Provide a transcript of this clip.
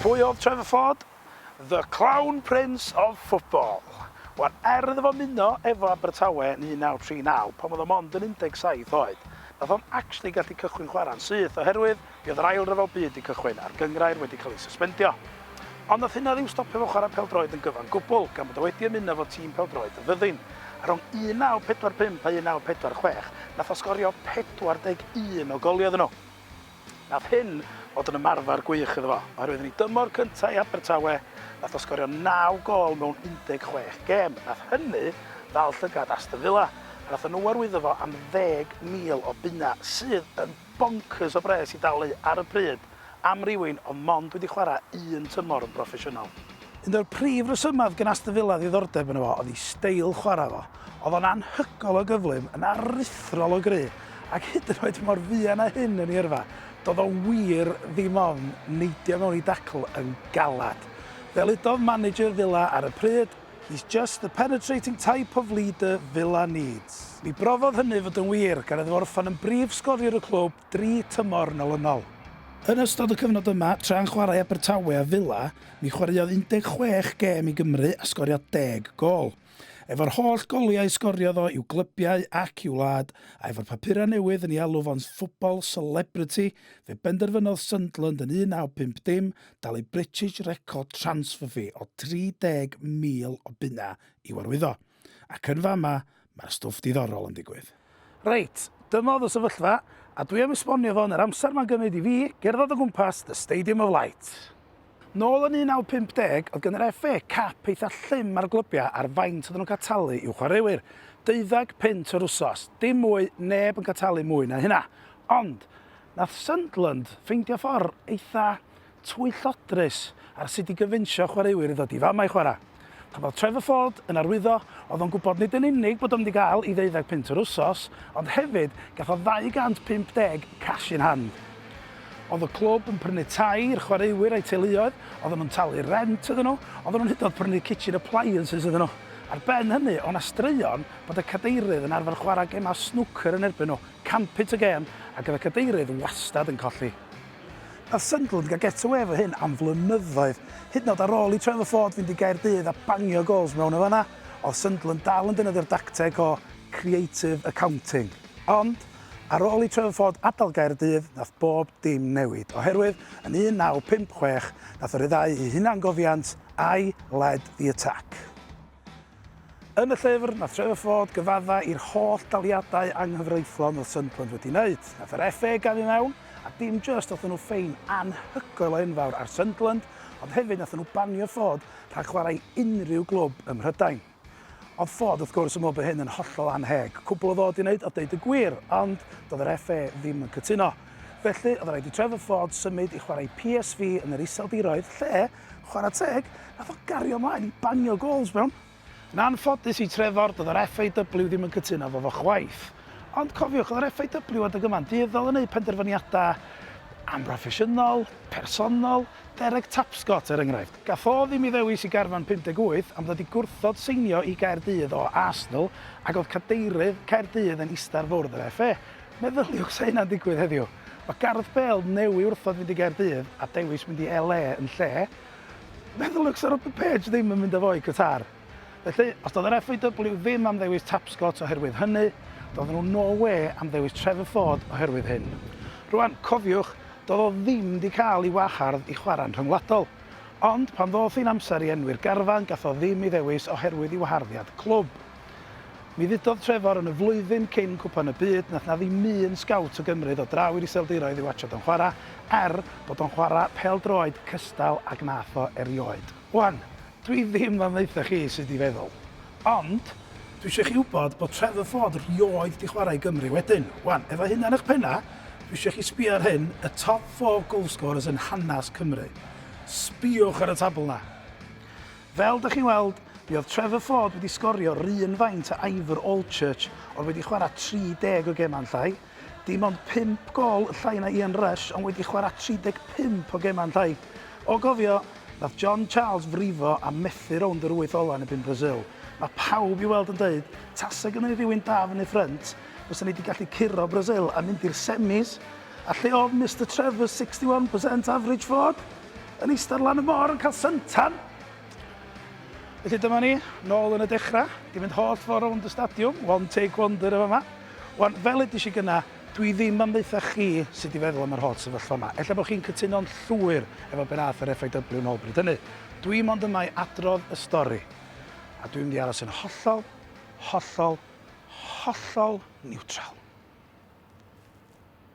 Pwy oedd Trevor Ford? The Clown Prince of Football. Wel, er iddo fo ymuno efo Abertawe yn 1939, pan oedd o mond yn 17 oed, nath o'm actually gallu cychwyn chwarae'n syth oherwydd Bydd yr Ail Ryfel Byd 'di cychwyn a'r gynghrair wedi cael ei syspendio. Ond nath hynna ddim stopio fo chwarae pêl-droed yn gyfan gwbl, gan bod o wedi ymuno 'fo tîm pêl-droed y Fyddin. A rhwng 1945 a 1946, nath o sgorio 41 o goliau iddyn nhw. Nath hyn fod yn ymarfer gwych iddo fo, oherwydd yn ei dymor cynta i Abertawe, nath o sgorio naw gôl mewn 16 gêm. Nath hynny ddal llygad Aston Villa, a nathon nhw arwyddo fo am ddeg mil o bunnau, sydd yn bonkers o bres i dalu ar y pryd am rywun oedd mond wedi chwarae un tymor yn broffesiynol. Un o'r prif resymau oedd gen Aston Villa ddiddordeb yno fo oedd ei steil chwarae fo. Oedd o'n anhygoel o gyflym, yn aruthrol o gry, ac hyd yn oed mor fuan â hyn yn ei yrfa, doedd o wir ddim ofn neidio mewn i dacl yn galed. Fel udodd manager Villa ar y pryd, He's just the penetrating type of leader Villa needs. Mi brofodd hynny fod yn wir, gan iddo orffen yn brif sgoriwr y clwb dri tymor yn olynol. Yn ystod y cyfnod yma, tra'n chwarae Abertawe a Villa, mi chwaraeodd 16 gêm i Gymru a sgorio deg gôl. Efo'r holl goliau y sgoriodd o i'w glybiau ac i'w wlad, a efo'r papurau newydd yn ei alw fo'n football celebrity, fe benderfynodd Sunderland yn 1950 dalu British Record Transfer Fee o 30,000 o bunnau i'w arwyddo. Ac yn fama, mae'r stwff diddorol yn digwydd. Reit, dyma oedd y sefyllfa, a dwi am esbonio fo yn yr amser mae'n gymryd i fi gerdded o gwmpas The Stadium of Light. Nôl yn 1950, oedd gan yr FA cap eitha llym ar glybiau ar faint oedden nhw'n cael talu i'w chwaraewyr, deuddag punt yr wsos, dim mwy, neb yn cael talu mwy na hynna. Ond, Nath Sunderland ffeindio ffor eitha twyllodrus ar sut i gyfunsio chwaraewyr i ddod i fama i chwara. Pan o'dd Trevor Ford yn arwyddo, o'dd o'n gwbod nid yn unig bod o'n mynd i ga'l 'i ddeuddeg punt yr wsos, ond hefyd gath o 250 cash in hand. O'dd y clwb yn prynu tai i'r chwaraewyr a'u teuluoedd, oddan nhw'n talu rent iddyn nhw, oddan nhw'n hyd yn o'd prynu kitchen appliances iddyn nhw. Ar ben hynny, o' 'na straeon bod y cadeirydd yn arfer chwara gemau snwcer yn erbyn nhw. Campit y gêm a gyda cadeirydd wastad yn colli. Nath Sunderland gael get away efo hyn am flynyddoedd, hyd yn oed ar ôl i Trevor Ford fynd i Gaerdydd a bangio gols mewn yn fan'na, oedd Sunderland dal yn defnyddio'r dacteg o 'creative accounting'. Ond, ar ôl i Trevor Ford adael Gaerdydd, nath bob dim newid, oherwydd yn 1956 nath o ryddhau ei hunangofiant 'I led the attack'. Yn y llyfr, nath Trevor Ford gyfadda i'r holl daliadau anghyfreithlon oedd Sunderland wedi wneud. Nath yr FA gamu mewn, a dim jyst nathon nhw ffein anhygoel o enfawr ar Sunderland, ond hefyd nathon nhw banio Ford rhag chwarae i unrhyw glwb ym Mhrydain. Oedd Ford wrth gwrs yn meddwl bod hyn yn hollol anheg, cwbl o ddod i wneud oedd deud y gwir, ond doedd yr FA ddim yn cytuno. Felly, oedd rhaid i Trevor Ford symud i chwarae i PSV yn yr Iseldiroedd, lle, Chwarae teg, nath o gario mlaen i bangio gols mewn. Yn anffodus i Trefor, doedd yr FAW ddim yn cytuno efo fo chwaith. Ond cofiwch, oedd yr FAW adeg yma'n dueddol yn eu penderfyniadau amhroffesiynol, personol, Derek Tapscott er enghraifft. Gath o ddim i ddewis i garfan 58 am ddod i gwrthod seinio i Gaerdydd o Arsenal ac oedd cadeirydd Caerdydd yn ista'r fwrdd yr FA. Meddyliwch sa hynna'n digwydd heddiw. Mae Gareth Bale newy wrthod fynd i Gaerdydd a dewis mynd i LA yn lle. Wnaeth y looks ar y page ddim yn mynd â fo i Qatar. Felly, os doedd yr FAW ddim am ddewis Tapscott oherwydd hynny, doedden nhw no wê am ddewis Trevor Ford oherwydd hyn. Rwan, cofiwch, doedd o ddim wedi cael ei wahardd i chwarae'n rhyngwladol. Ond, pan ddoth hi'n amser i enwi'r garfan, gath o ddim ei ddewis oherwydd ei waharddiad clwb. Mi ddudodd Trevor yn y flwyddyn cyn Cwpan y Byd na 'na ddim un sgowt o Gymru ddod draw i'r Iseldiroedd i watsiad o'n chwara, er bod o'n chwara pêl-droed cystal ag nath o erioed. Wan, dwi ddim am ddaetha chi sud i feddwl. Ond, dwi isio chi wybod bod Trevor Ford rioed di chwara i Gymru wedyn. Wan, efo hynna yn ych penna, dwi isio chi sbio ar hyn, y top four goalscorers yn hanas Cymru. Sbiwch ar y tabl 'na. Fel dych chi'n weld, mi oedd Trevor Ford wedi sgorio run faint a Ivor Allchurch ond wedi chwarae 30 o gemau yn llai. Dim ond 5 gol yn llai na Ian Rush ond wedi chwarae 35 o gemau yn llai. O gofio, nath John Charles frifo a methu rownd yr wyth ola yn erbyn Brasil. Mae pawb i weld yn deud, tasa gynnon ni rywun da fyny ffrynt, fysa ni wedi gallu curo Brasil a mynd i'r semis. A lle oedd Mister Trevor's 61 percent average Ford? Yn eistedd lan y môr yn cael syntan. Felly dyma ni, nôl yn y dechrau, di mynd holl ffordd rownd y stadiwm, one take wonder y fama. Wan, fel edys i gyna, dwi ddim am ddeitha chi sydd di feddwl am yr holl sefyllfa yma. Ella bod chi'n cytuno'n llwyr efo be nath yr FAW nôl bryd hynny. Dwi mond yma i adrodd y stori. A dwi'n mynd i aros yn hollol, hollol, hollol niwtral.